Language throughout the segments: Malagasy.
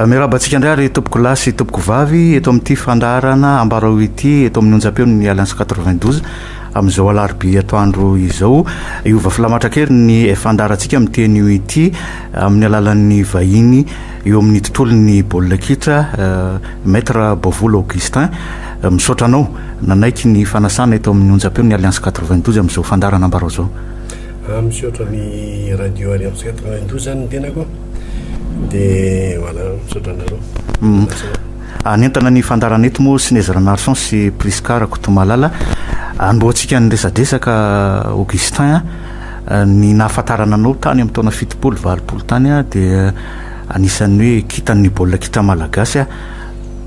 Miarahaba antsika indray ary tompoko lahy sy tompoko vavy eto amin'ity fandaharana ambarao ity eto amin'ny onjam-peon'ny Alliance 92 amin'izao alarobia atoandro izao hiova filamatra kely ny fandaharantsika amin'ny teny io ity amin'ny alalan'ny vahiny eo amin'ny tontolon'ny baolina kitra Maître Bovola Augustin misaotra anao nanaiky ny fanasana eto amin'ny onjam-peon'ny Alliance 92 amin'izao fandaharana ambarao izao. Raha misaotra ny radio Arivo Centre nandoa izany ny tenako dia voilà misaotra anareo. Hanentana ny fandarana eto moa Sinez Ranarison sy Prisca Rakotomalala hanombohantsika ny resadresaka Augustin ny nahafantarana anao tany amin'ny taona fitopolo valopolo tany a dia anisan'ny hoe kitan'ny baolina kitra malagasy a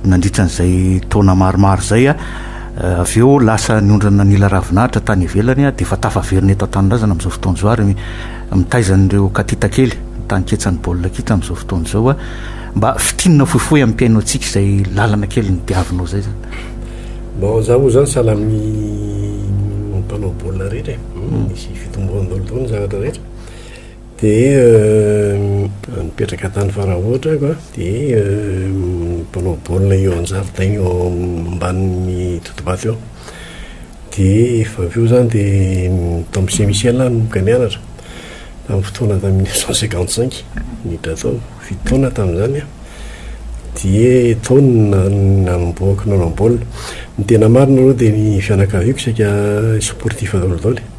nandritra an'izay taona maromaro izay a Avy eo lasa niondrana nila ravin'ahitra tany ivelany dia efa tafaverina eto an-tanindrazana amin'izao fotoana izao ary mitaiza an'ireo katita kely, ny tanin-ketsan'ny baolina kitra amin'izao fotoana izao. Mba fintinina fohifohy ampiaino antsika izay lalana kely nodiavinao izay izany. Bon, izaho moa izany sahala amin'ny mpanao baolina rehetra e, nisy fitomboany daholo tokoa ny zavatra rehetra. Dia nipetraka tany Faraotra aho, dia mpanao baolina eo an-jaridaina eo ambanin'ny totobato eo. Dia efa avy eo izany dia tao amin'ny CMICL aho nanomboka nianatra, tamin'ny fotoana tamin'ny mille neuf cent cinquante cinq, niditra tao, fito taona aho tamin'izany an, dia tao no nanombohako nanao baolina. Ny tena marina aloha dia ny fianakaviako saika sportif daholo daholo e.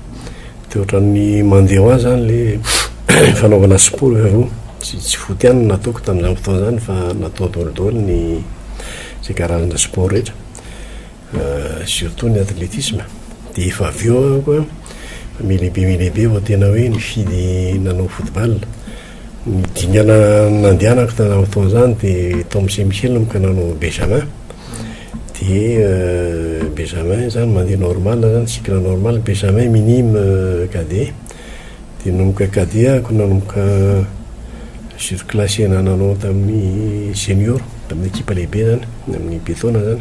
Dia ohatran'ny mandeha ho azy izany le fanaovana sport efa voa. Tsy tsy foot ihany no nataoko tamin'izany fotoana izany fa natao daholo daholo ny izay karazana sport rehetra. Surtout ny athlétisme. Dia efa avy eo aho koa, efa miha lehibe miha lehibe vao tena hoe nifidy nanao football. Ny dingana nandehanako tamin'izany fotoana izany dia tao amin'ny CMCL no nanao Benjamin. Dia Benjamin izany mandeha normal izany, cycle normal, Benjamin minime, cadet. Dia nanomboka cadet aho ka nanomboka surclasse na nanao tamin'ny senior, tamin'ny ekipa lehibe izany, ny amin'ny be taona izany.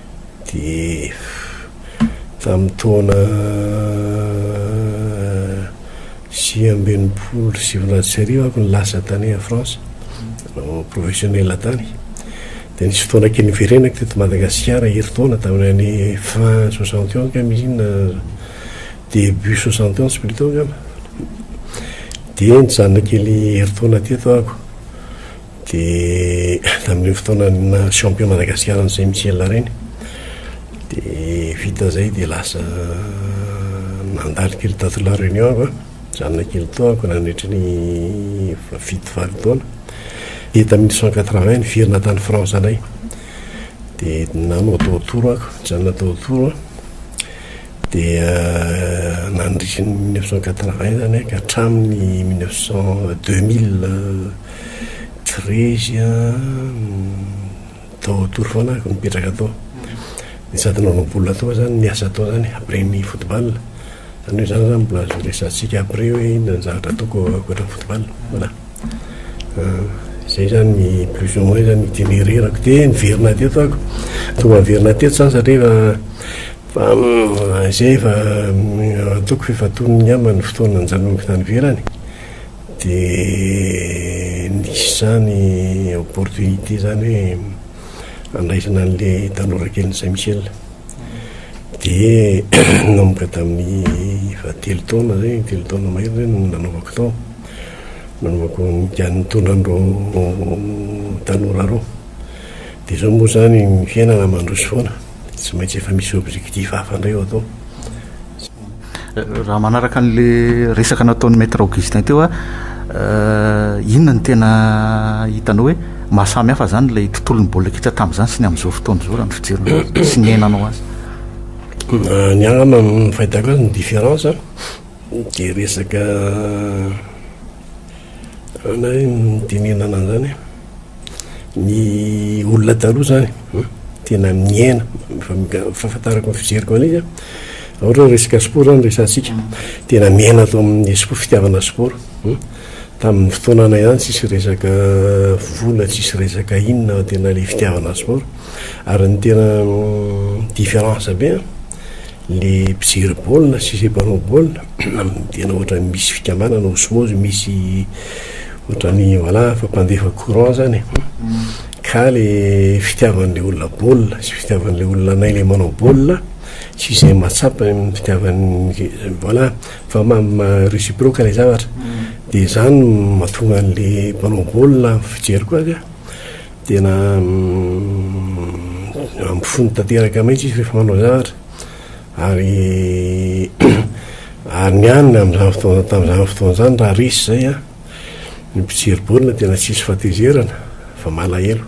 Dia tamin'ny taona sivy amby enimpolo sy sivinjato sy arivo aho no lasa tany France, nanao professionnel tany. Dia nisy fotoana kely niverenako teto Madagasikara herintaona tamin'ny année fin soixante et onze angamba izy iny na début soixante et onze plutôt angamba. Dia nijanona kely herintaona teto aho. Dia tamin'ireny fotoana naha champion Madagasikara an'izay Michela ireny dia vita izay dia lasa nandalo kely tato La Réunion aho an, nijanona kely tao aho nandritry ny fito valo taona. Dia tamin'ny mille neuf cent quatre vingt niverina tany France indray dia nanao tao Tours aho, nijanona tao Tours aho. dia nandritry ny mille neuf cent quatre-vingt izany an, ka hatramin'ny mille neuf cent deux mille treize tao tory foana aho, nipetraka tao, dia sady nanao baolina tao aho izany, niasa tao izany après ny football, izany hoe izany izany mbola azo resahantsika après hoe inona ny zavatra ataoko ankoatra ny football, voilà. Izay izany ny plus ou moins ny itinéraire-ko, dia niverina teto aho, tonga niverina teto izany satria efa. Fa izay efa ataoko f'efa tonony ngamba ny fotoana nijanonako tany ivelany dia nisy izany opportunité izany hoe handraisana an'ilay tanora kelin'i Saint Michel. Dia nanomboka tamin'ny efa telo taona izay, telo taona mahery izay no nanaovako tao. Nanaovako ny nitondra an'ireo tanora ireo. Dia izao moa izany ny fiainana mandroso foana. Tsy maintsy efa misy objectif hafa indray ao atao. Raha manaraka an'le resaka nataon'ny maître Augustin teo a, euh, inona ny tena hitanao hoe mahasamy hafa zany ilay tontolon'ny baolina kitra tamin'izany sy ny amin'izao fotoana izao raha ny fijerina azy sy ny iainanao azy? Euh, ny angamba ny fahitako azy ny différence a, dia resaka euh, na hoe ny dinihana an'izany. ny olona taloha zany an, tena miaina, fahafantarako ny fijeriko an'izy an, raha ohatra hoe resaka sport zany no resahantsika, tena miaina tao amin'ny esport, fitiavana sport, tamin'ny fotoananay zany tsisy resaka vola, tsisy resaka inona fa tena ilay fitiavana sport, ary ny tena différence be an. Ny mpijery baolina sy izay mpanao baolina amin'ny tena ohatran'ny misy fikambanana osmozy misy ohatran'ny voilà fa mpandefa courant izany e. Mm. Ka le fitiavan'ilay olona baolina sy fitiavan'ilay olona anay le manao baolina sy izay mahatsapa ny fitiavan'ny voilà fa ma réciproque ilay zavatra. Mm. Dia izany mahatonga an'ilay mpanao baolina fijery koa azy a. Tena ampifony tanteraka mihitsy izy rehefa manao zavatra ary ary ny any amin'izany fotoana tamin'izany fotoana izany raha resy izay a ny mpijery baolina tena tsisy fatezerana fa malahelo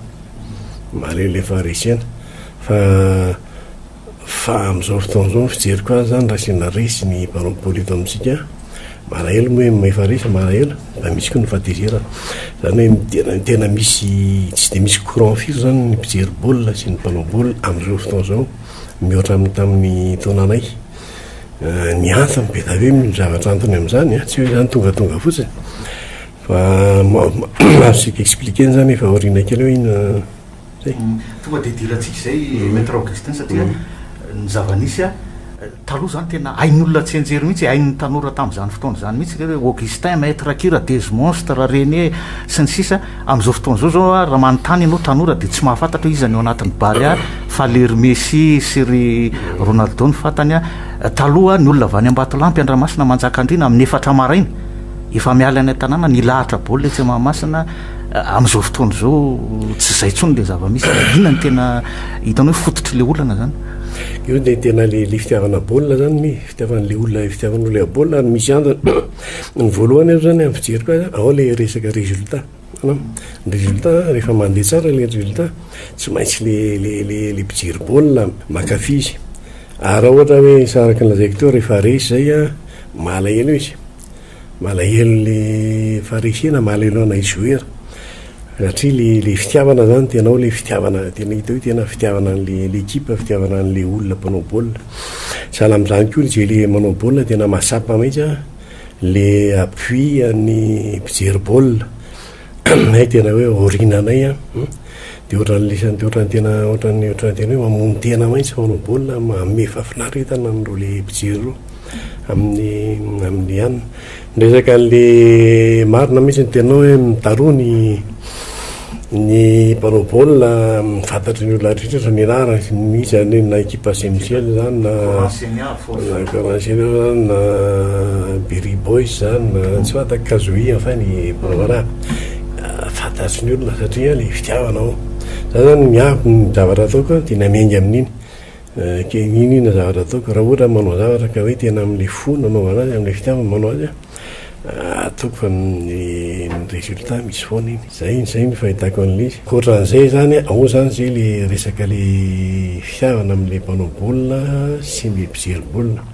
malahelo efa resena fa Fa amin'izao fotoana izao ny fijeriko azy izany raha sendra resy ny mpanao baolina eto amintsika malahelo moa hoe efa resy malahelo mba misy koa ny fahatezerana. Izany hoe tena tena misy tsy dia misy courant firy izany ny mpijery baolina sy ny mpanao baolina amin'izao fotoana izao mihoatra amin'ny tamin'ny taonanay. Ny antony be dia be ny zavatra antony amin'izany an, tsy hoe izany tongatonga fotsiny fa azo tsika expliquer-na izany efa aoriana kely eo iny. Tonga dia idirantsika izay Maître Augustin satria ny zava-nisy taloha izany tena hain'olona tsy hianjery mihitsy, hain'ny tanora tamin'izany fotoana izany mihitsy ireo hoe Augustin, Maître Kira, Dezy Monstre, Rene sy ny sisa Amin'izao fotoana izao izao raha manontany ianao tanora dia tsy mahafantatra hoe iza ny ao anatin'ny Barea fa ilay ry Messi sy ry Ronaldo no fantany. Taloha ny olona avy any Ambatolampy, Andramasina, Manjakandriana amin'ny efatra maraina efa miala any an-tanàna nilahatra baolina etsy Mahamasina, Amin'izao fotoana izao tsy izay intsony ilay zava-misy. Inona no tena hitanao hoe fototr'ilay olana izany? Io dia tena ilay ilay fitiavana baolina izany mi, fitiavan'ilay olona fitiavanao ilay baolina ary misy antony. Ny voalohany aloha izany amin'ny fijeriko azy an, ao ilay resaka résultat. Hitanao? Ny résultat rehefa mandeha tsara ilay résultat, tsy maintsy ilay ilay ilay mpijery baolina mankafy izy. Ary raha ohatra hoe araka ny lazaiko teo rehefa resy izay an, malahelo izy. Malahelo le Farisy na malahelo anay joueur satria le le fitiavana zany tenao le fitiavana tena hita hoe tena fitiavana anle l'équipe fitiavana anle olona mpanao baolina sahala amzany koa zay le manao baolina tena mahatsapa mintsy a le appui an'ny mpijery baolina Aminay tena hoe aoriana anay an, hum, dia ohatran'ny lesany, dia ohatran'ny tena, ohatran'ny, ohatran'ny tena hoe mamono tena mihitsy fanao baolina, manome fahafinaretana an'ireo le mpijery ireo amin'ny, amin'ny an. Miresaka an'le marina mihitsy ny tenao hoe mitaroa ny ny mpanao baolina amin'ny fantatry ny olona rehetra rehetra ny anarany mihitsy any na ekipa GMGL izany na Na International na Berry Boys zany na tsy fantako Kazohi enfin ny Bravara fantatry ny olona satria le fitiavana ao. Za zany miabo ny zavatra ataoko a de na miainga amin'iny ke iny iny zavatra ataoko raha ohatra manao zavatra ka hoe tena am'le fo nanaovana azy am'le fitiavana manao azy a. Atoko fa ny résultat misy foana iny. Zay zay ny fahitako anle. Kotran'izay zany an, ao zany zay le resaka le fihavana amle mpanao baolina sy ny mpijery baolina.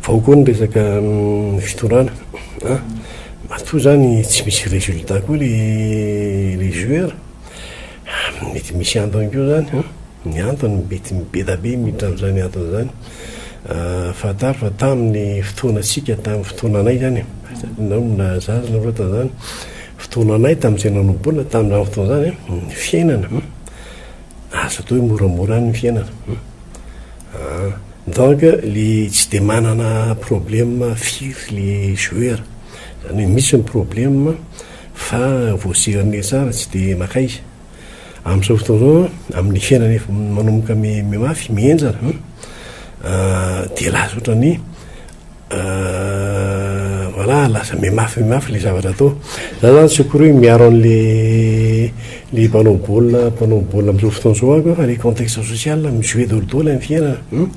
Fa ao koa ny resaka fitondrana an, matoa zany tsy misy résultat koa le joueur, mety misy antony koa zany an. Ny antony mety mibedabe miditra amin'izany antony izany, fantaro fa tamin'ny fotoanantsika, tamin'ny fotoananay izany e, ianao mbola zaza ianao loatra izany, fotoananay tamin'izay nanomboana tamin'izany fotoana izany an, ny fiainana azo atao hoe moramora any ny fiainana an, donc ilay tsy dia manana problème firy ilay joueur, izany hoe misy ny problème fa voasehirina eo tsara tsy dia maka izy. Amin'izao fotoana izao an, amin'ny fiainana efa manomboka mi- mimafy, mihenjana an, ah, dia lasa ohatran'ny ah, voilà, lasa mimafy mimafy ilay zavatra atao. Za zany tsy akory hoe miaro an'le le mpanao baolina mpanao baolina amin'izao fotoana izao ako fa le contexte social mi-jouer daholo daholo amin'ny fiainana. Hum,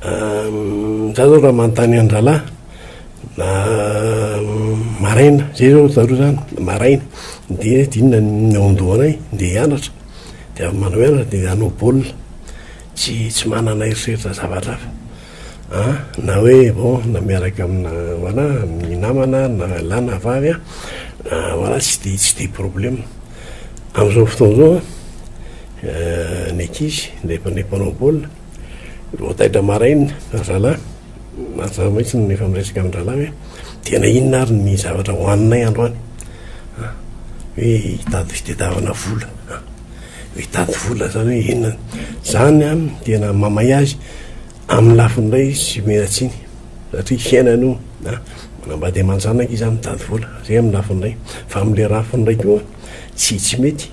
ah, za zao raha manontany an-drahalahy, Na maraina, zay zao zareo zany, maraina dia tsy inona ny ao an-dohanay dia hianatra, dia avy manao hianatra dia hanao baolina, tsy tsy manana eritreritra zavatra hafa an, na hoe bon na miaraka amina voilà amin'ny namana na lahy na vavy an, voilà tsy de tsy de problème. Amin'izao fotoana izao an ny ankizy, ilay mpanao baolina. Voataitra maraina ry zalahy, mazava mihitsy no efa miresaka amin-drahalahy hoe tena inona ary ny zavatra hohaninay androany an! hoe hitady fitadiavana vola an! hitady vola izany hoe inona izany an! tena mamay azy amin'ny lafiny iray izy tsy omena tsiny satria fiainany io an! manambady aman-janaka izy an! mitady vola izay amin'ny lafiny iray fa amin'ilay rafiny iray koa tsy tsy mety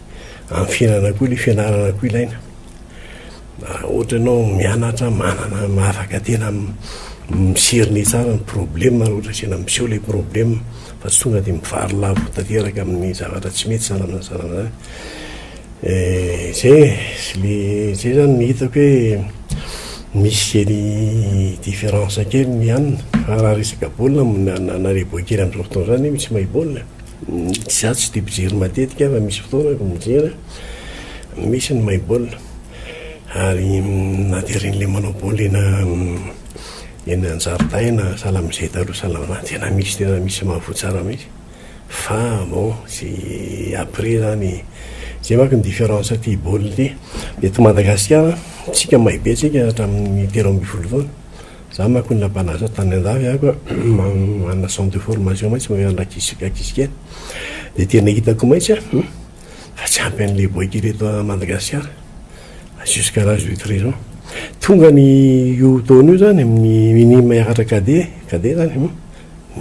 amin'ny fiainana koa ilay fianarana koa ilaina ohatra ianao mianatra manana mahafaka tena miserine tsara ny problema raha ohatra tena miseho ilay problema fa tsy tonga dia mivary lavo tanteraka amin'ny zavatra tsy mety sanana sanana eh, zay sy le zay zany ny hitako hoe misy zeny différence kely ny anina fa raha resaka baolina nareboa kely amin'izao fotoana izany misy mahay baolina Izaho tsy dia mpijery matetika fa misy fotoana aho mijery a, misy ny mahay baolina ary na dia ireny ilay manao baolina eny an-jaridaina sahala amin'izay taloha sahala amin'izany tena misy tena misy mahavoa tsara mihitsy fa bon tsy après izany izay manko ny différence aty baolina ity. Eto Madagasikara isika mahay be isika hatramin'ny telo ambin'ny folo taona. Za manko nila mpanasa tany andafy aho ka manana centre de formation mantsy mahay mandra kisika kisika de tena hitako mantsy a fa tsy ampy anle boika ery eto Madagasikara fa jusqu'à l'âge de 13 ans tonga ny io taona io zany amin'ny minime hiakatra cadet cadet zany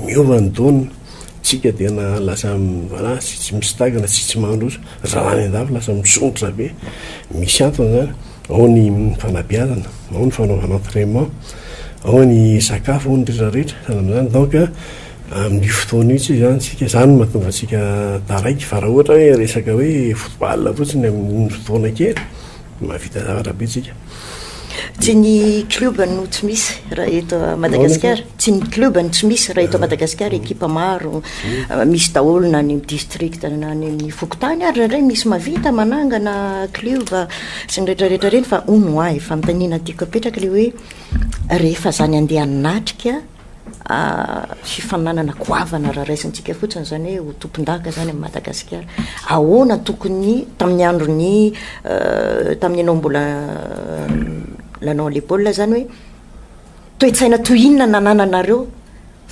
miova ny taona tsika tena lasa voilà tsy tsy misitagana tsy tsy mandroso raha any andafy lasa misondrotra be misy antony zany Ao ny fanabeazana, ao ny fanaovana entrainement, ao ny sakafo, ao ny retraretra. Sahala amin'izany donc amin'io fotoana io tsy izany isika. Izany no mahatonga antsika taraiky fa raha ohatra hoe resaka hoe football fotsiny amin'ny fotoana kely dia mahavita zavatra be isika. Tsy ny club no tsy misy raha eto Madagasikara, tsy ny club no tsy misy raha eto Madagasikara, ekipa maro misy daholo na any amin'ny district na any amin'ny fokontany ary indraindray misy mahavita manangana club. sy ny rehetra rehetra ireny fa hono ho'ahy fanontaniana tiako apetraka le hoe rehefa zany andeha hanatrika fifaninanana goavana raha raisintsika fotsiny izany hoe ho tompondaka izany amin'i Madagasikara. Ahoana tokony tamin'ny andron'ny euh, tamin'ny ianao mbola euh, lanao les baolina izany hoe toe-tsaina toy inona nanananareo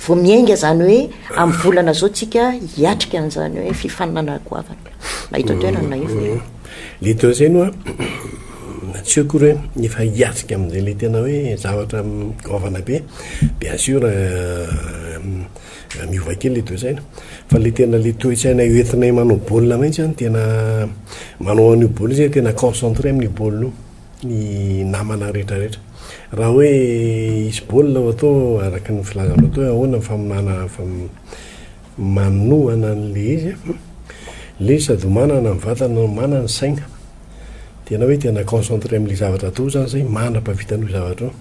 Vao miainga izany hoe amin'ny volana izao tsika hiatrika an'izany hoe fifaninanana goavana na eto an-toerana na efa e. Le teo zay no a tsy eo akory hoe efa hiatrika amin'izay le tena hoe zavatra goavana be bien sûr miova kely le toe-tsaina fa le tena le toe-tsaina entinay manao baolina mihitsy a no tena manao an'io baolina io zay tena concentré amin'io baolina io. ny namana rehetra rehetra. Raha hoe hisy baolina ao atao araka ny filazanao teo hoe ahoana ny famonoana manohana an'ilay izy a, ilay izy sady manana ny vatana no manana ny saina. Dia ianao hoe tena concentré amin'ilay zavatra atao izany izay mandra-pahavitany io zavatra io.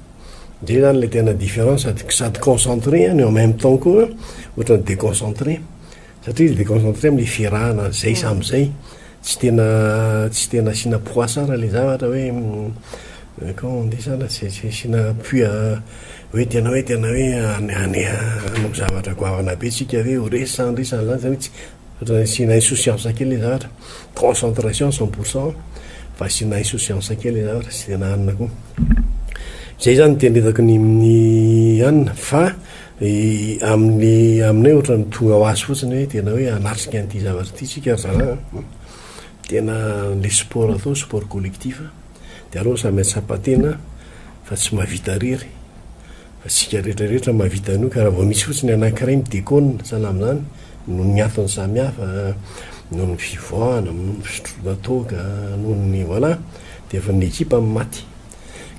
Izay izany ilay tena différence, sady concentré an et en même temps koa ohatran'ny déconcentré. Satria izy déconcentré amin'ilay fiarahana izay samy izay, tsy tena tsy tena asiana poids tsara ilay zavatra hoe comment on dit ça là, tsy tsy asiana appui à hoe tena hoe tena hoe hane hane hanao zavatra goavana be tsika hoe ho resy sa handresy an'izany izany hoe tsy, ohatra hoe asiana insouciance kely ilay zavatra, concentration cent pour cent fa asiana insouciance kely ilay zavatra, tsy tena hanina koa. Izay izany no tena hitako ny amin'ny hanina fa Amin'ny aminay ohatran'ny tonga ho azy fotsiny hoe tena hoe hanatrika an'ity zavatra ity isika ry zalahy an! Tena ilay sport atao sport collectif dia aleo samy hahatsapa tena fa tsy mahavita irery fa isika rehetra rehetra mahavita an'io ka raha vao misy fotsiny anankiray mi-deconne sahala amin'izany noho ny antony samy hafa noho ny fivoahana, noho ny fisotroana toaka, noho ny voilà dia efa ny ekipa no maty.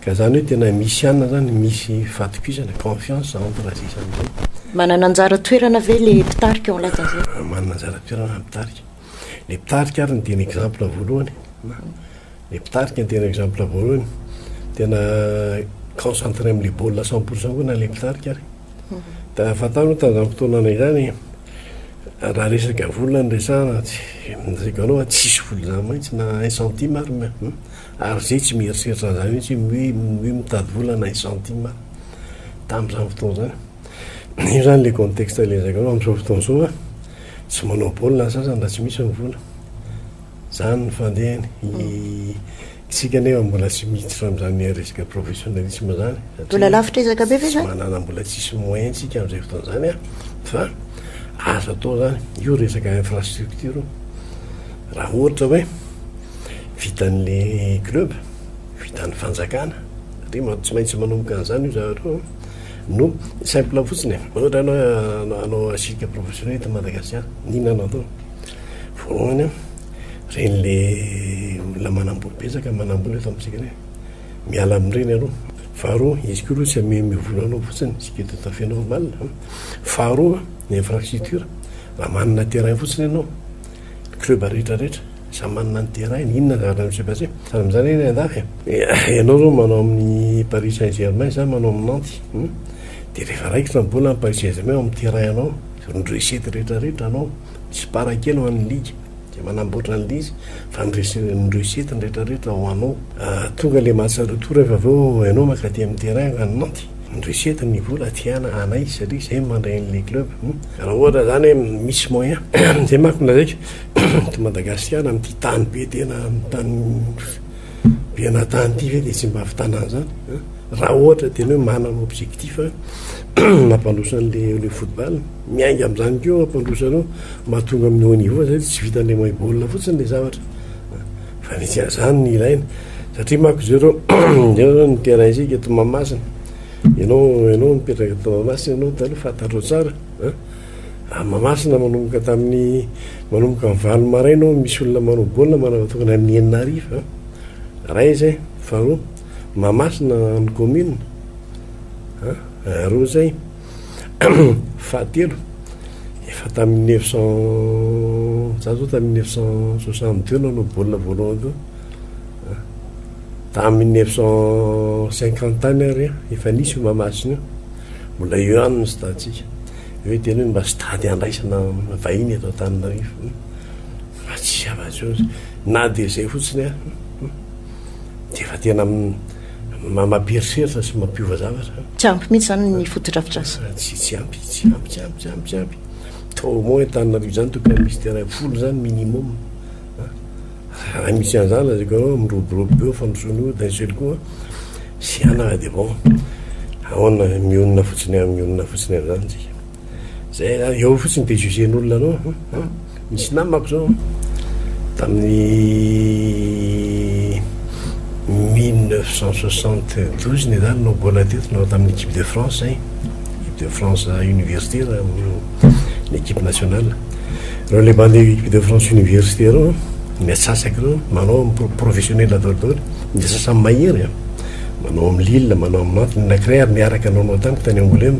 Ka zany hoe tena misy ihany zany misy fatokisana confiance entre izay sy an'izay. Manana anjara toerana ve le mpitarika eo anlatan'izay? Ah, manana anjara toerana ny mpitarika. Le mpitarika ary ny tena exemple voalohany. Le mpitarika ny tena exemple voalohany. Tena concentré amin'le baolina cent pour cent koa na le mpitarika ary. Da fantaro moa tamin'izany fotoanana izany raha resaka vola no resahana, tsy, ny resaka vola tsisy vola zany mihitsy na un centime ary. Ary zay tsy mieritreritra an'izany mihitsy hoe hoe mitady vola na centimes aho tamin'izany fotoana izany. Io izany ilay contexte ilay lazaiko anao amin'izao fotoana izao an, tsy manao baolina ny sasany raha tsy misy ny vola. Izany ny fandehany. Isika anefa mbola tsy miditra amin'izany resaka professionnalisme izany satria tsy manana mbola tsisy moyen tsika amin'izay fotoana izany an, fa azo atao izany. Io resaka infrastructure io. Raha ohatra hoe. vitan'le club, vitan'ny fanjakana, satria tsy maintsy manomboka an'izany io zavatra io no simple fotsiny e ohatra anao anao asika professionnel eto Madagasikara n'inona no atao voalohany a ren'le olona manambola betsaka manambola eto amintsika re miala amin'ireny aloha faharoa izy koa aloha tsy amihemy vola anao fotsiny sika tout à fait normal faharoa ny infrastructure raha manana terrain fotsiny ianao ny club rehetra rehetra samy manana ny terrain-ny, inona ny zavatra miseho basy, sady mizany anie ny andafy e, ianao zao manao amin'ny paris saint germain za manao amin'ny nantes hum, de rehefa raikitra ny bola amin'ny paris saint germain ao amin'ny terrain anao, ny recette rehetra rehetra anao, misy part kely ho an'ny ligue zay manamboatra ny lizy fa ny recette ny recette ny rehetra rehetra ho anao, tonga le match retour rehefa avy eo ianao mankaty amin'ny terrain any nantes, Indrisy eto ny vola tiana anay satria izay no mandray an'ilay club hum. Raha ohatra zany hoe misy moyen zay manko no lazaiko eto Madagasikara amin'ity tany be tena tany be ana tany ity ve dia tsy mba avitanana zany hum raha ohatra tena hoe manana objectif mampandroso an'ilay football miainga amin'izany koa ampandroso anao mahatonga amin'ny haut niveau zay tsy vitan'ilay mahay baolina fotsiny ilay zavatra. Fa ny tsy azany ny ilaina. Satria manko zao reo zao reo ny terrain isika eto Mahamasina. Enao enao mipetraka eto Mahamasina enao taloha fantatrao tsara an. A Mahamasina manomboka tamin'ny manomboka amin'ny valo maraina ao misy olona manao baolina manao tokony amin'ny enina hariva an. Ray zay. Faharoa Mahamasina ny commune an. Roa zay. Fahatelo, efa tamin'ny neuf cent, za zao tamin'ny neuf cent soixante deux no nanao baolina voalohany teo, ah, tamin'ny neuf cent cinquante any ary an, efa nisy io Mahamasina io, mbola eo ihany ny stade-tsika. Eo hiteny hoe mba stade handraisana vahiny eto Antananarivo. Hmm. Fa tsy zava-tsotra. Na dia izay fotsiny an, hmm, hmm. dia efa tena Mampieritreritra sy mampiova zavatra. Tsy ampy mihitsy izany ny fotodrafitrasa. Tsy tsy ampy, tsy ampy, tsy ampy, tsy ampy, tsy ampy. Toa au moins Antananarivo izany tokony misy terrain folo izany minimum. Raha misy an'izany lazaiko anao miroborobo be eo fandrosoana eo d'un seul coup tsy hanana dia bon. Ahoana mionona fotsiny amin'ny olona fotsiny amin'izany isika. Zay a, eo fotsiny de jugen'olona anao an an, misy namako zao tamin'ny mille neuf cent soixante douze ny zany no gola teto nanao tamin'ny equipe de France zay, equipe de France université na ny equipe nationale, reo le bande equipe de France université reo an, ny atsasaka reo manao am pro- professionnel daholo daholo, ny sasany mahery an, manao am Lille, manao am Nantes, ny anankiray ary niaraka nanao tamiko tany Angouleme.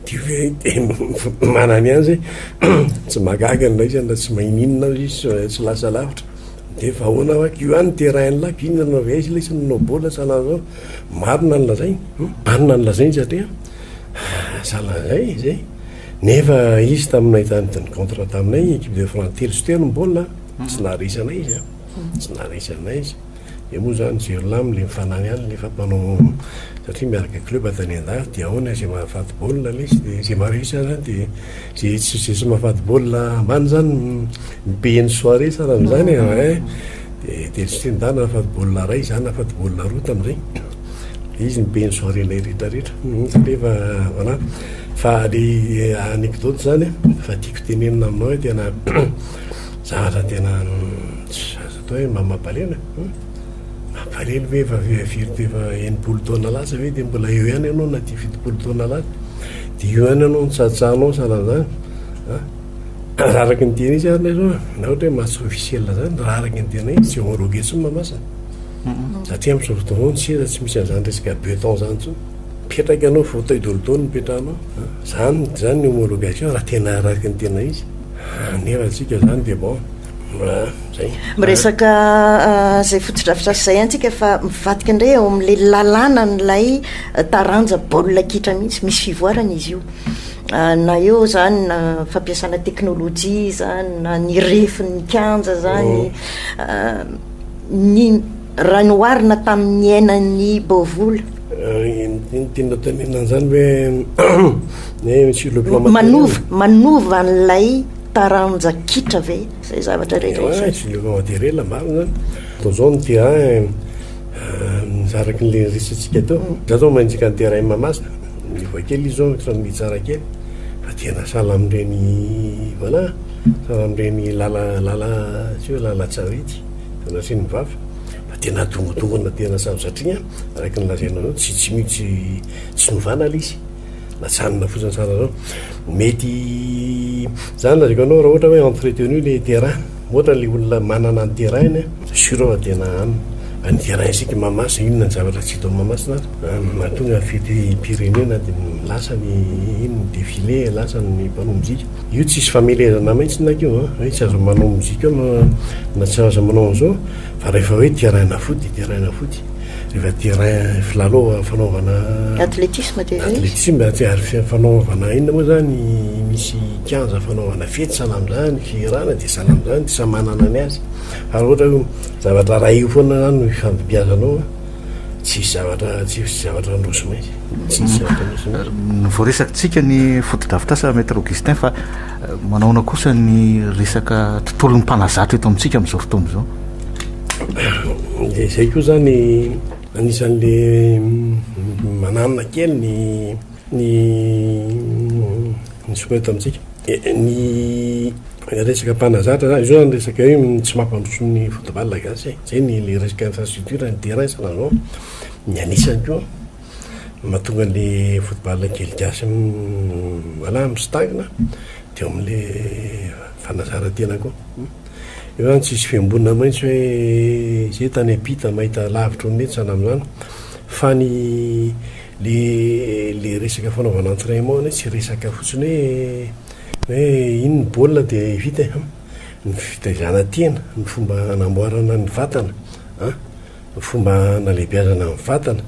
Dia hoe dia manany azy tsy mahagaga ny raisany raha tsy maninona aza izy tsy lasa lavitra dia fa ahoana hoa io any terrain lac io nanao avy aiza ilay izy nanao baolina sa nanao marina ny lazainy marina ny lazainy satria sahala an'izay izay nefa izy taminay tany tany contre taminay équipe de France telo sy telo ny baolina tsy naharesy anay izy tsy naharesy anay izy Dia moa izany Jirlam ilay mifanary any nefa mpanao satria miaraka club tany an-dafy dia ahoana izay mahafaty baolina lesy dia izay maha réussi an'izany dia izay izay tsy mahafaty baolina ambany izany mi-payer ny soirée sa raha an'izany e eh, dia dia tsy nda nahafaty baolina iray izaho nahafaty baolina roa tamin'izay dia izy mi-payer ny soirée anay rehetra rehetra hmm, satria efa voilà fa ilay eh, anecdote izany fa tiako tenenina aminao tena Zavatra tena tsy azo atao hoe mba mampalena eh? Mampalena ve efa firy tefa enimpolo taona lasa ve dia mbola eo ihany ianao na tia fitopolo taona lasa dia eo ihany ianao nitsatsahanao sanan'izany eh? raha araka ny tena izy ary izao na ohatra hoe maso officiel zany raha araka ny tena izy tsy vao rogue tsy mamasina satria amin'izao fotoana izao ny seza tsy misy an'izany resaka beton zany intsony mipetraka ianao fauteuil dolodo no mipetrahanao zany zany ny homologation raha tena araka ny tena izy Anera tsika zany de bon zay. Miresaka zay fotodrafitrasa zay an tsika fa mivadika ndray eo am le lalàna an lay taranja baolina kitra mihitsy, misy fivoarana izy io na eo zany na fampiasana teknolojia zany na ny refin ny kianja zany ny Raha ny oharina tamin'ny niainan'i Bovola. Inona tianao tenenina an'izany ve Monsieur le Plan Matériel? Manova, manova an'ilay taranja kitra ve izay zavatra rehetra izay? Oay, Monsieur le Plan Matériel, marina izany. Toa izao ny terrain a, araka ny niresahantsika teo, izaho izao mandika ny terrain Mahamasina, miova kely izy izao, samy mitsara kely, fa tena sahala amin'ireny, voilà, sahala amin'ireny lala, lala, tsy hoe lalan-tsarety. Sanatria ny vava fa tena adongondongona tena sady satria an, araka ny lazainao zao tsy tsy mitsy tsy novana le izy natsanina fotsiny tsara zao. Mety zany lazaiko anao raha ohatra hoe entretenu le terrain moa ohatra le olona manana ny terrain-ny an, sûr aho fa tena an, ny terrain isika mahamasina inona ny zavatra tsy hita ao mahamasina ary an, mahatonga ny fetim-pirenena dia lasa ny inona ny defile lasa ny mpanao mozika. Io tsisy famelezana mintsy nak io an, hoe tsy aza manao mozika eo na tsy aza manao an'izao fa rehefa hoe terrain na foot dia terrain na foot, rehefa terrain filalao fanaovana Athlétisme dia izay izy. Athlétisme ary ary fanaovana inona moa izany misy kianja fanaovana fety sahala amin'izany, fihirana dia sahala amin'izany, samy manana ny azy fa raha ohatra hoe zavatra iray io foana izany no ifandibiazanao an. Tsisy zavatra, tsisy zavatra handroso mihitsy. Tsisy zavatra handroso mihitsy. Euh, voaresakitsika ny fotodrafitrasa Maître Augustin fa euh, manaona kosa ny resaka tontolon'ny mpanazatra eto amintsika amin'izao fotoana izao. Dia izay koa zany anisan'le mm, mananona kely ny ny ny soeto amintsika ny resaka mpanazatra zany zao ny resaka hoe tsy mampandroso ny football gasy e zay ny le resaka infrastructure ny terrain zany zao ny anisany koa mahatonga le football kely gasy voilà misintangina de eo am'le fanazaran-tena koa eo zany tsisy fiambonana maintsy hoe zay tany am-pita mahita lavitra ho netsana am'zany fa ny Le le resaka fanaovana entrainement anie tsy resaka fotsiny hoe hoe iny ny baolina de vita e hum ny fitaizana tena ny fomba hanamboarana ny vatana an ny fomba hanalebiazana ny vatana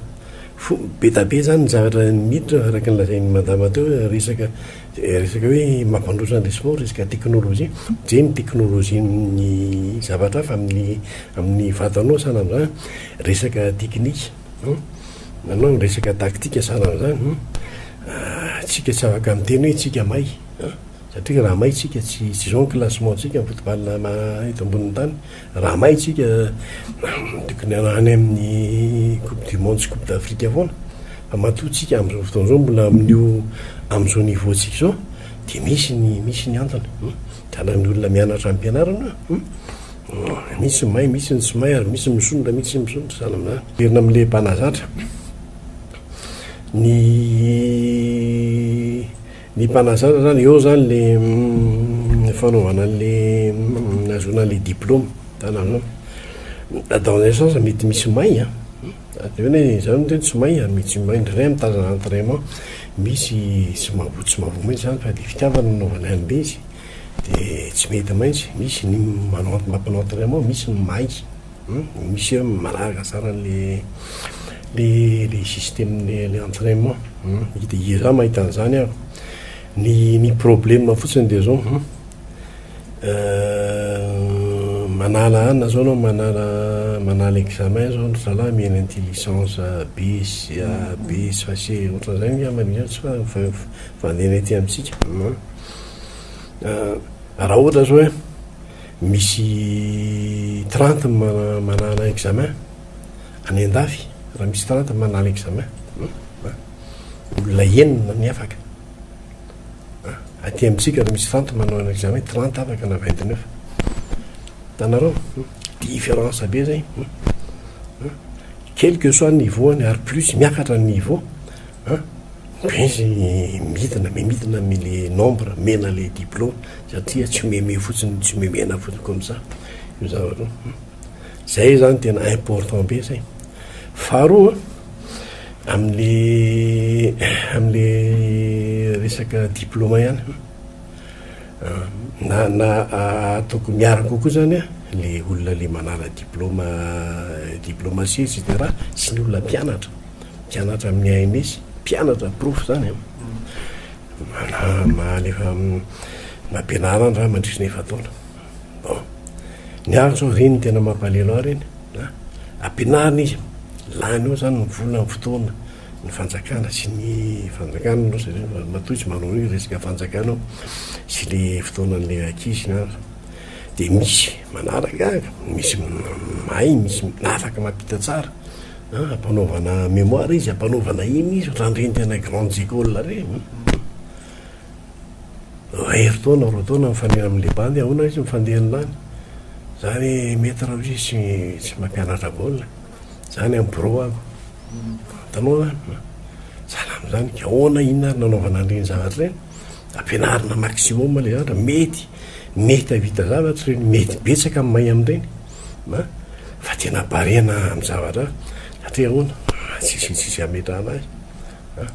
fo be da be zany ny zavatra miditra araka ny lazain'i madama teo hoe resaka resaka hoe mampandroso an'le sport resaka teknolojia je ny teknolojian'ny zavatra hafa amin'ny amin'ny vatanao sanan'zany resaka teknika Nanao ny resaka tactique sanany zany hum ah tsika tsy afaka miteny hoe tsika may an satria raha may tsika tsy tsy zao ny classement tsika ny football ma eto ambonin'ny tany raha may tsika tokony any amin'ny coupe du monde sy coupe d'afrique foana fa matoa tsika am'zao fotoana zao mbola amin'io am'zao niveau tsika zao de misy ny misy ny antony Tana ny olona mianatra ampianarana a! Misy ny mahay, misy ny tsy mahay ary misy ny misondrotra, misy ny misondrotra zany amin'izany a! Miverina amin'ny lehibe mpanazatra, ny ny mpanazatra zany eo zany le fanaovana an'le nahazoana an'le diploma, tana zao, dans un sens mety misy may a! Dia hoe ny izany hoe tsy may, ami tsy may ndray am tazana entraiment misy tsy mahavoa tsy mahavoa mintsy izany fa dia fitiavana no nanaovany anle izy dia tsy mety mintsy, misy ny manao ent mampanao entraiment misy ny may hum misy hoe manaraka tsara anle le le système le le entraiment hum dia iza mahita an'izany ary ny ny problème fotsiny dia zao hum. Euh manala anona zao anao manala manala examen zao ry zalahy mihaino an'ity licence B sy A, B sy fa C ohatran'izay angamba ny hira tsy fa f- vandeana ety amintsika an. Ah raha ohatra zao hoe misy trente mana- manala examen any an-dafy raha misy trente manala examen, olona enina no hiafaka. Aty amintsika raha misy vente manao un examen trente afaka na vingt neuf. Hitanareo? Difference be zay. Quel que soit ny niveau-ny ary plus miakatra ny niveau an, be izy midina me midina amin'ilay nombre mena ilay diplôme satria tsy omeme fotsiny tsy omemena fotsiny comme ça io zavatra io. Zay zany tena important be zay. Faharoa amle amle resaka diploma ihany na na ataoko miaraka kokoa zany a le olona le manala diploma diplomatie et cetera sy ny olona mpianatra mpianatra amin'ny AMS mpianatra porofo zany a mana- mahalefa am- nampianarana raha mandritry ny efa-taona Bon. Ny ahy zao reny tena mampalelo ahy reny a. Ampianarina izy, lany eo zany ny vola, ny fotoana, ny fanjakana sy ny fanjakana aloha satria matoa izy manao an'io resaka fanjakana io sy le fotoanan'le ankizy na de misy manaraka, misy mahay, misy afaka mampita tsara a, ampanaovana mémoire izy, ampanaovana iny izy raha reny tena grandes écoles reny. Mahery taona, roa taona mifanena amin'ny le bandy, ahoana izy mifandeha ny lany? Za re maître hoy izy tsy tsy mampianatra baolina, za any amin'ny birao ako, hitanao zany an, sahala amin'izany, ka ahoana inona ary nanaovana an'ireny zavatra ireny? Ampianarina maximum le zavatra, mety mety hahavita zavatra ireny, mety betsaka ny mahay amin'ireny an, fa tena barea-na amin'ny zavatra hafa, satria ahoana, tsisy tsisy hametrahana azy an.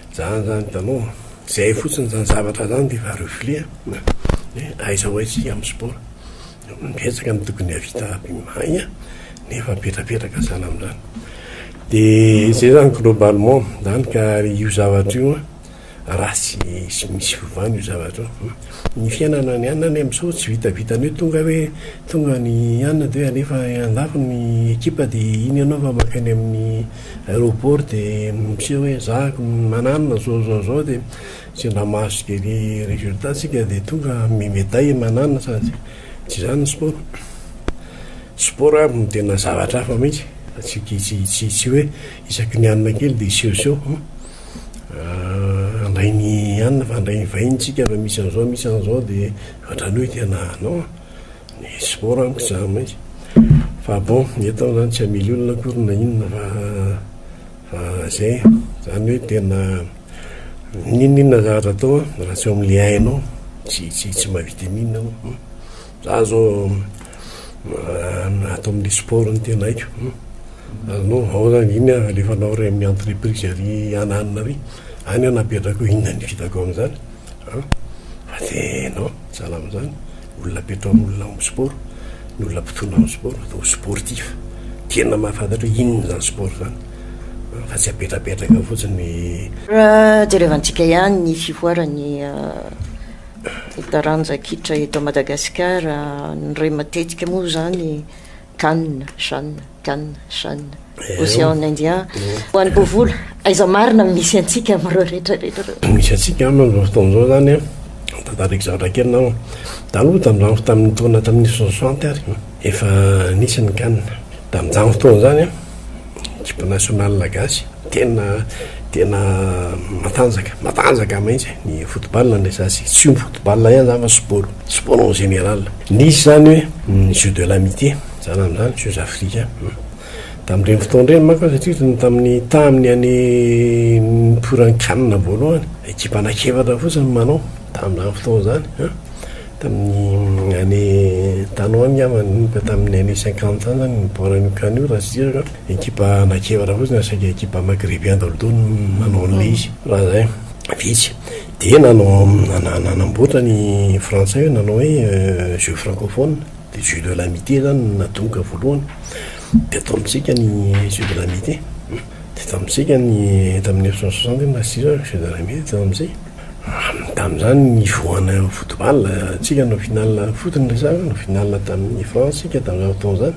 Zany zany hitanao a! Zay fotsiny zany zavatra zany de efa reflet a! Hoe aiza ho aiza isika amin'ny sport? Betsaka ny tokony hahavita aby mahay nefa mipetrapetraka zany amin'izany. De zay zany globalement zany ka io zavatra io a raha tsy misy fiovana io zavatra io. Ny fiainana any ane amin'izao tsy vitavita ny hoe tonga hoe tonga any an de hoe alefa any an-dafy ny ekipa de iny ianao vao maka any amin'ny. aéroport dia miseho hoe za mananona zao zao zao dia sendra mahazo ny résultat tsika dia tonga mi médaille mananona sa tsy tsy zany ny sport sport ary no tena zavatra hafa mihitsy fa tsy tsy tsy tsy hoe isaky ny hanina kely dia seho seho handray ny hanina fa handray ny vahiny tsika fa misy an'izao misy an'izao dia ohatrany hoe tena non Nisy môra amiko zany maika fa bon eto aho zany tsy hamely olona akory na inona fa fa zay zany hoe tena n'inon'inona zavatra atao raha tsy eo amin'le hainao tsy tsy tsy mahavita n'inona anao hmm. za zao ato amin'ny sport ny tena haiko hmm. anao ao zany iny alefanao ray amin'ny entreprise ary ananina ary any anapetrako inona ny vitako amin'izany fa de non salama zany Olona petraon olona ao am sport ny olona mpitona am sport atao sportif tena mahafantatra hoe inona izany sport izany fa tsy apetrapetraka fotsiny. Jerevantsika ihany ny fivoaran'ny taranja kitra eto Madagasikara, indray matetika moa izany Cannes, Cannes, Cannes, Cannes, Océan Indien, ho an'i Bovola, aiza marina no misy antsika amin'ireo rehetra rehetra ireo? Misy antsika aminy amin'izao fotoana izao izany an, tantariko zavatra kely na taloha tamin'izany tamin'ny taona tamin'ny soixante ary efa nisy ny Cannes, tamin'izany fotoana izany an. Equipe nationale gasy tena tena matanjaka matanjaka mintsy ny football ndray za sy tsy io ny football ihany zany fa sport sport en général nisy zany hoe ny jeux de l'amitié za nano zany jeux africains tamin'ireny fotoana ireny manko aho satria ny tamin'ny tamin'ny any niporan'ny can voalohany equipe anakefatra fotsiny no manao tamin'izany fotoana zany an Tamin'ny année tany ho any angamba, nanomboka tamin'ny année cinquante tany izany ny baolina io can io raha tsy diso an, ekipa anak'efatra fotsiny na saika ekipa maghrébien daholo teo no nanao an'ilay izy raha izay, vitsy. Dia nanao nanamboatra ny frantsay hoe nanao hoe jeux francophones, dia jeux de l'amitié izany no natomboka voalohany, dia tao amintsika ny jeux de l'amitié, dia tao amintsika ny tamin'ny mille neuf cent soixante angamba raha tsy diso aho ny jeux de l'amitié dia tao amintsika. Aminy tamin'izany nivoana ny football tsika no final foot ny resaka no final tamin'ny France tsika tamin'izany fotoana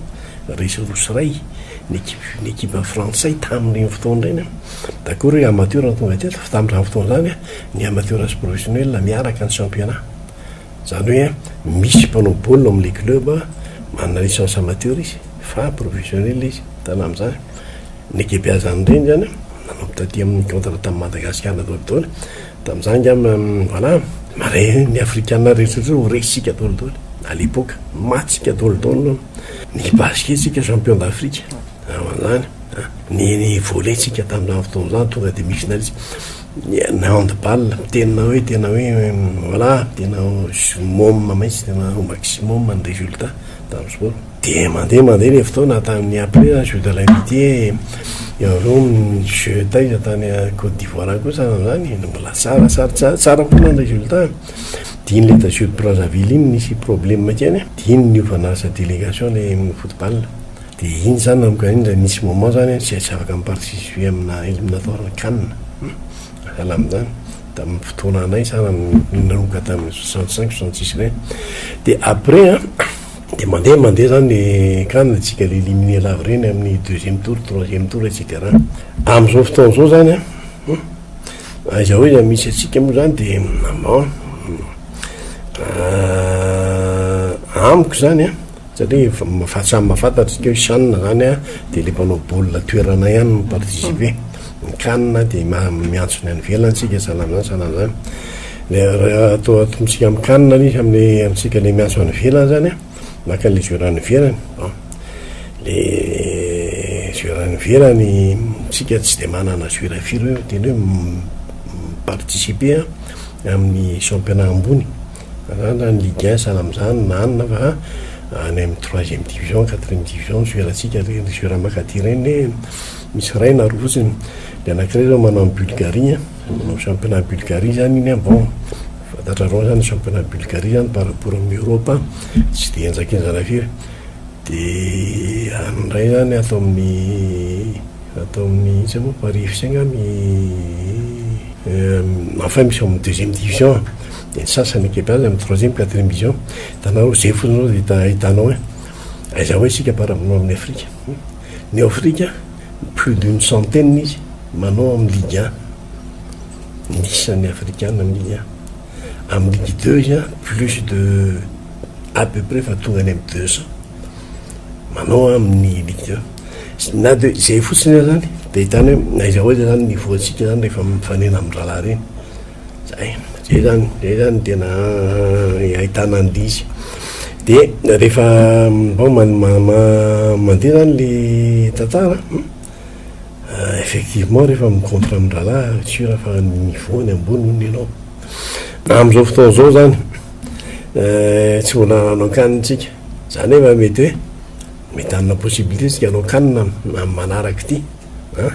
izany resy roa sy iray ny ekipa ny ekipa frantsay tamin'ireny fotoana ireny an d'accord hoe amateur no tonga teto fa tamin'izany fotoana izany an ny amateur sy professionnel miaraka ny championnat izany hoe an misy mpanao baolina ao amin'ilay club manana licence amateur izy fa professionnel izy hitana amin'izany Ny gebeazan'ny reny zany an, nanao taty amin'ny contre tamin'ny Madagasikara na daholo daholo, tamin'izany angamba voilà, marais ny afrikana rehetra rehetra ho resisika daholo daholo à l'époque, maty tsika daholo daholo non, ny basket tsika champion d'Afrique tamin'izany an, ny ny volley tsika tamin'izany fotoana izany tonga dia misy finaliste, ny ny handball tena hoe tena hoe voilà tena summum mintsy tena au maximum ny résultat tamin'ny sport. Dia mandeha mandeha ilay fotoana tamin'ny après la Jeux de l'Amitié eo aloha ny Jeux taiza tany Côte d'Ivoire any koa sahala amin'izany no mbola tsara sady tsara tsara kokoa ny résultat dia iny ilay tao Jeux de Brazzaville iny nisy problème kely a dia iny niovana asa délégation ilay foot ball dia iny izany nanomboka iny dia nisy moment izany a tsy tsy afaka mi-participer amina éliminatoire can sahala amin'izany tamin'ny fotoana anay sahala nanomboka tamin'ny soixante cinq soixante six ireny dia après a Dia mandeha mandeha izany ny cas na dia tsy galet éliminer lava ireny amin'ny deuxième tour, troisième tour et cetera. Amin'izao fotoana izao izany an, aiza ho aiza misy antsika moa izany dia bon, amiko izany an, satria efa mafa- samy mahafantatra isika hoe chan izany an dia ilay mpanao baolina toerana ihany no mi-participer, ny can dia ma- miantso ny any ivelany isika sahala amin'izany sahala amin'izany. Miara toa tontsika am kanina anie samy le antsika le miasa any ivelany zany a, maka anle jour any ivelany bon, le jour any ivelany tsika tsy de manana jour firy hoe tena hoe mi participer a aminy championnat ambony zany zany ligue un sahala amzany na anona fa any am troisième division quatrième division jour tsika reny jour makati reny le misy ray na roa fotsiny le anakiray zao manao any Bulgarie a. Manao championnat Bulgarie zany iny an bon fantatrareo zany championnat Bulgarie zany par rapport amin'ny Europe an tsy dia enjakenjana firy de any indray zany ato amin'ny ato amin'ny intsony moa Paris FC nga mi enfin misy ao amin'ny deuxième division an de ny sasany équipe any amin'ny troisième quatrième division hitanareo zay fotsiny zao vao hita hitanao hoe aiza ho aiza isika par rapport amin'ny Afrika ny Afrika Plus d'une centaine izy manao amin'ny ligue un ny isan'ny afrikana amin'ny ligue un. Amin'ny ligue deux izy an plus de à peu près efa tonga any amin'ny deux cents manao amin'ny ligue un. Na dia izay fotsiny aza izany dia ahitana hoe na aiza ho aiza izany ny voantsika izany rehefa mifanena amin-drahalahy ireny. Zay, zay zany, zay zany tena ahitana andizy, de rehefa bon man- ma- ma- mandeha zany le tantara an, effectivement rehefa mi-contre amin-drahalahy c'est sur fa ny niveau-ny ambony hono ianao, na am'zao fotoana zao zany tsy mbola nanao can tsika, za nefa mety hoe mety hanana possibilité tsika hanao can am- am- manaraka ity an.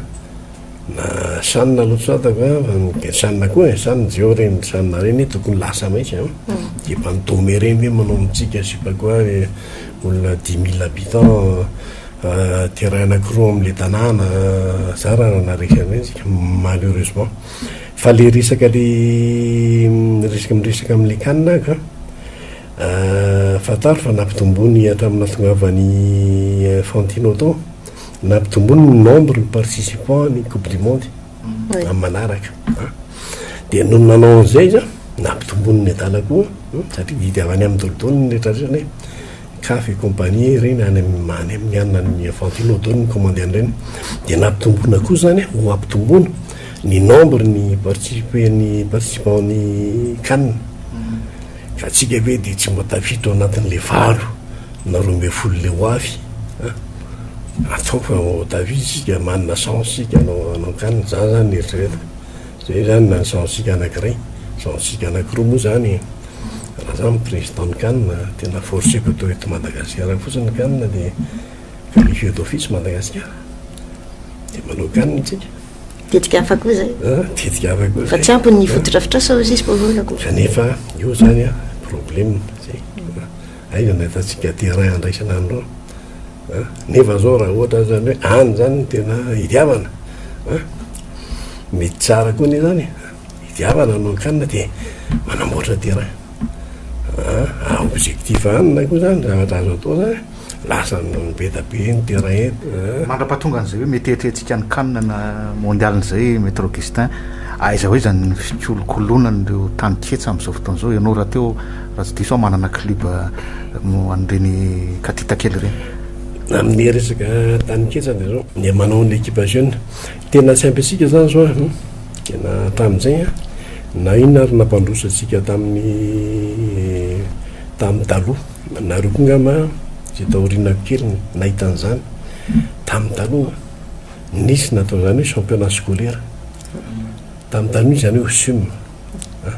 Na sanona aloha tsy fantako a, fa ny dia sanona koa e, sa ny jiaho ireny ny sanona ireny tokony lasa mihitsy an, dia efa ny dome ireny ve manao amintsika je sais pas quoi le olona dix mille habitants terrain anakiroa amin'ilay tanàna, za raha nanaresaka an'ireny tsika malheureusement, fa le resaka le resaka miresaka amin'ilay can ka fantaro fa nampitomboiny hatramin'ny nahatongavan'i Infantino tao. nampitomboiny ny nombre ny participants ny coupe du monde amin'ny manaraka dia noho ny nanao an'izay izy a nampitomboiny ny medala koa satria didy avy any amin'ny dodoany ny rehetra rehetra ny CAF et compagnie ireny any amin'ny any amin'ny anona ny Infantino dodoany ny commande an'ireny dia nampitomboina koa izany a ho ampitomboina ny nombre ny participe ny participant ny canne ka tsika ve dia tsy mba tafiditra ao anatin'ilay valo na roa ambin'ny folo le ho avy an! atao fa David isika manana chance isika hanao hanao can zah zany ny eritreretiko zay zany na ny chance sika anakiray chance sika anakiroa moa zany raha zah ny président ny can tena forceko atao eto Madagasikara fotsiny ny can de qualifier d'office Madagasikara de manao can tsika tetika hafa koa zay an! tetika hafa koa zay fa tsy ampy ny fotodrafitrasa hoy izy Paolo akory kanefa io zany an! problème zay Aiza no ahitantsika aty iray andraisana an'ireo a? Nefa izao raha ohatra izany hoe any izany no tena idiavana a! Mety tsara koa anie izany e! Idiavana no hakanina dia manamboatra terrain a! Ary objectif hanina koa izany zavatra azo atao izany e! Lasa be dia be ny terrain eto a! Mandra-pahatongan'izay hoe mety eritreretintsika ny kanina mondialin'izay Maître Augustin, aiza ho aiza ny fikolokolonan'ireo tany ketsa amin'izao fotoana izao? Ianao rahateo Raha tsy diso aho manana club mo an'ireny katita kely ireny. Amin'ny resaka tanin-ketsa dia izao, dia manao an'ilay ekipa jeune. Tena tsy ampy antsika izany izao an! Tena hatramin'izay an! Na inona ary nampandroso antsika tamin'ny tamin'ny taloha. Nareo koa angamba izay taorianako kely nahita an'izany. Tamin'ny taloha an! Nisy natao izany hoe championnat scolaire. Tamin'ny taloha nisy izany hoe OSUM an!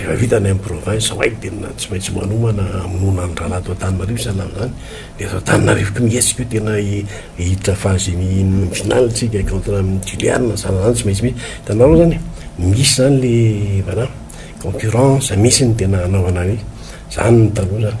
Rehefa vita ny any province ao hay tena tsy maintsy manomana hamonoana ny rahalahy ato Antananarivo isan'andro izany dia eto Antananarivo koa mihetsika io tena hiditra phase ny finale tsika contre amin'ny Juliarina na zana zany tsy maintsy misy hitanareo zany e misy zany le voilà concurrence misy ny tena hanaovana an'io zany ny taloha zany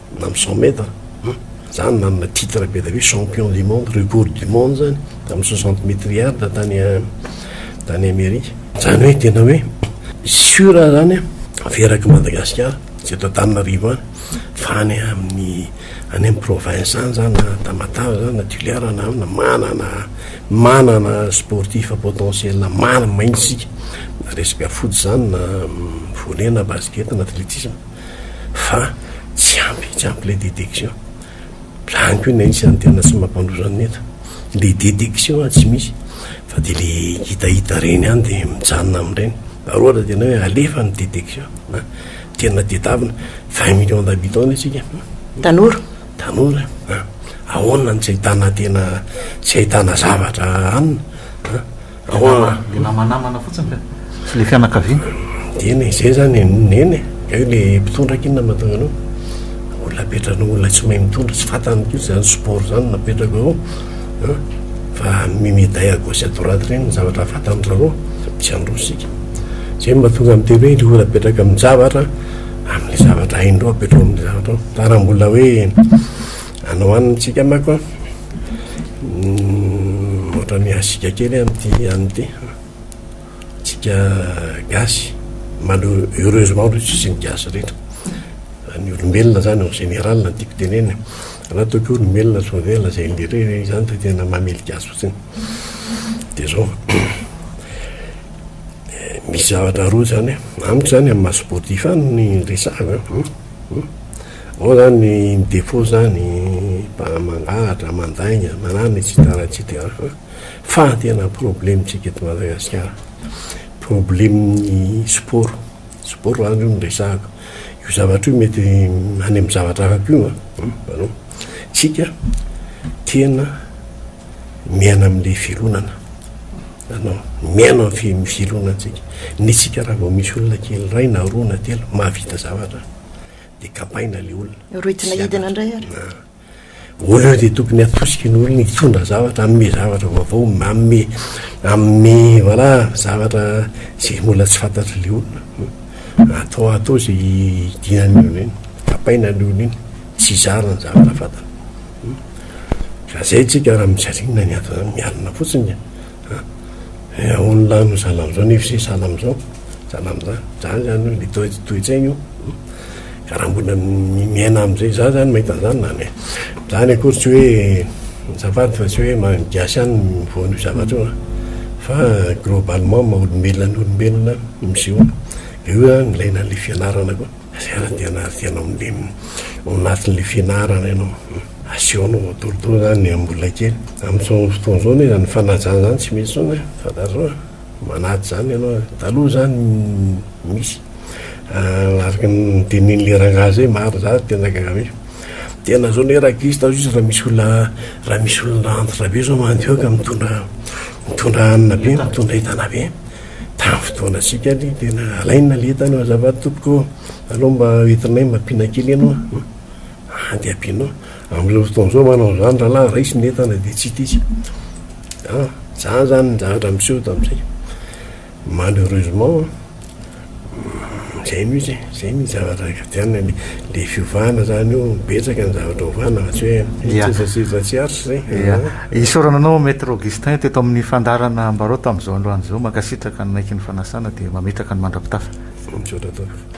na amin'ny cent mètres an, zany nanana titre be dia be champion du monde, record du monde zany tamin'ny soixante mètres yard tany tany Amerika, zany hoe tena hoe sur zany an, avy eraky Madagasikara sy eto Antananarivo any fa any amin'ny any amin'ny province any zany na Tamatave zany na Toliara na ahoana manana manana sportif potentiel marina mihitsy isika na resaka foot zany na volley na basket na athlétisme. fa tsy ampy tsy ampy ilay détection lany ko ilay isan'ny tena tsy mampandroso an'ny eto le détection a tsy misy fa de le hitahita reny any de mijanona amin'ireny raha ohatra tena hoe alefa ny détection na tena tedavina vingt millions d'habitants isika tanora tanora ahoana no tsy ahitana tena tsy ahitana zavatra anina Dia namanamana fotsiny ve? Tsy le fianakaviana? Eny e, izay izany e, neny e, hay le mpitondra aky inona no mahatonga anao? Olona apetranao, olona tsy mahay mitondra, tsy fantany mihitsy izany sport izany no apetrako eo an, fa mi-medaille à gauche et à droite ireny ny zavatra fantany ry zareo, tsy handroso isika. Izay no mahatonga ahy miteny hoe ilay olona apetraka amin-javatra, amin'ilay zavatra hainy indreo apetrao amin'ilay zavatra ao, fa raha mbola hoe. Anao any mitsika mako an. Ohatra mihasika kely amin'ity an'ny ity. Tsika gasy. Malheure, heureusement aloha tsisy ny gasy rehetra. Ny olombelona zany en général no tiako tenenina. Raha tokio olombelona tsy maverina zay indrindra hoe izany de tena mamely gasy fotsiny. De zao. Misy zavatra roa zany an. Amiko zany amin'ny maha sportif ahy no resahako an. Ao zany ny defaut zany mangalatra, mandainga, manano etc etc fa fa ny tena problème tsika eto Madagasikara problème ny sport sport zany io no resahako io zavatra io mety any amin'ny zavatra hafa ko a hitanao tsika tena miaina amle fironana hitanao miaina amin'ny fironantsika ny tsika raha vao misy olona kely ray na roa na telo mahavita zavatra dia kapaina ilay olona. Rohitina hidina indray ary. Ah. Au lieu dia tokony atosika ny olona hitondra zavatra, hanome zavatra vaovao, manome hanome voilà zavatra izay mbola tsy fantatr'ilay olona. Hmm. Atao atao izay hidinan'ny olona iny, kapaina ny olona iny, tsy zara ny zavatra fantany. Hmm. Fa izay tsika raha mijanona ny antony mialona fotsiny. Eh aonona any zala amzao nefa se sahala amzao zala amza zany zany hoe le to toetsaigna io ka raha mbola mi miaina amzay za zany mahita anzany zany e zany akory tsy hoe azafady fa tsy hoe ma gasy any mivoan'io zavatra io a fa globalement maha olombelona ny olombelona misehoa de io zany ilaina an'le fianarana koa Asiana dia na asiana amin'ilay ao anatin'ilay fianarana ianao. Asehonao matoritory izany ny an'olona kely. Amin'izao fotoana izao anie izany fanajana izany tsy misy intsony an, fantatrao an, manaja izany ianao. Taloha izany misy, araka ny nitenenin'ilay rangahy izay marina izany no tena gaga-be. Tena izao anie rakikisy taloha izy raha misy olona, raha misy olona antitra be izao mandroaka mitondra, mitondra hanina be, mitondra entana be. Tamin'ny fotoana sika anie tena alaina le entana azafady tompoko ô! Aleo mba entinay mba ampiana kely ianao a! Any dia ampianao. Amin'izao fotoana izao manao an'izany rahalahy, raiso ny entana dia tsy hita izy. An! Izany izany ny zavatra miseho eto amintsika. Malheureusement an! Izay mihitsy, izay mihitsy zavatra ikajana le le fiovana zany io betsaka ny zavatra ovana fa tsy hoe seza seza tsy arts zay. Ia, isaorana anao Maître Augustin teto amin'ny fandaharana Ambarao tamin'izao androany izao. Mankasitraka ny naiky ny fanasana dia mametraka ny mandra-pitafa. Misaotra tompoko.